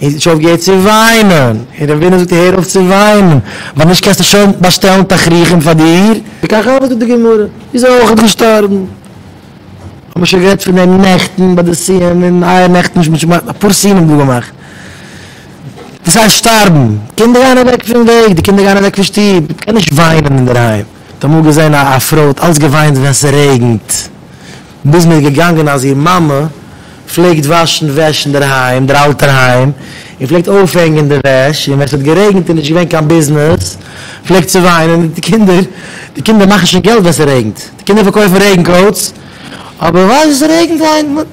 ער האט נישט אויפגעהערט צו וויינען, און ר' ווינער זאגט אים הער אויף צו וויינען, ווייל נישט קענסטו שוין באשטעלן תכריכים פאר דיר. וכך הוה זאגט די גמרא, איז ער אויכעט געשטארבן. האמיר שוין גערעדט פון דעם נעכטן ביי די סיום, און איה נעכטן נישט מ'האט שוין געמאכט אפאר סיומים דא געמאכט. דאס הייסט שטארבן, קינדער גייען אוועק פון וועג, די קינדער גייען אוועק פון שטוב, מ'קען נישט וויינען אינדערהיים. האט אמאל געזען א פרוי האט אלץ געוויינט ווען ס'רעגנט. ביז מ'איז געגאנגען אז איר מאמע פלעגט וואשן וועש אינדערהיים, דער אלטער היים, און פלעגט אויפהענגען די וועש, און ווען ס'האט גערעגנט און נישט געווען קיין ביזנעס, פלעגט זי וויינען, די קינדער, די קינדער מאכן שוין געלט ווען ס'רעגנט, די קינדער פארקויפן רעגן קאוטס, אבער ווייל ס'רעגנט היינט,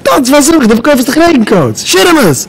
טאנץ פאר זכר, די פארקויפסט דאך רעגן קאוטס, שירעמעס!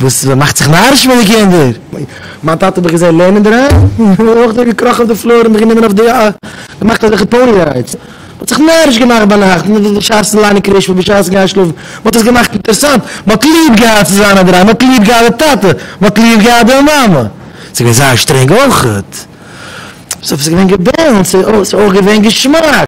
וואס מאכט זיך נאריש פון די קינדער? מיין טאטע האב איך געזען לערנען דערהיים, און אויך דער געקראכן אויף די פלאר און מיך גענומען אויף די א. געמאכט אזעלכע פאוני ריידס. מ'האט זיך נאריש געמאכט ביינאכט, בשעת'ן ליינען קרישמע, בשעת'ן גיין שלאפן, מ'האט עס געמאכט אינטערסאנט, מ'האט ליב געהאט צו זיין אינדערהיים, מ'האט ליב געהאט די טאטע, מ'האט ליב געהאט די מאמע. ס'איז געווען זייער שטרענג אויך. ס'איז געווען געבענטש, ס'איז אויך געווען געשמאק.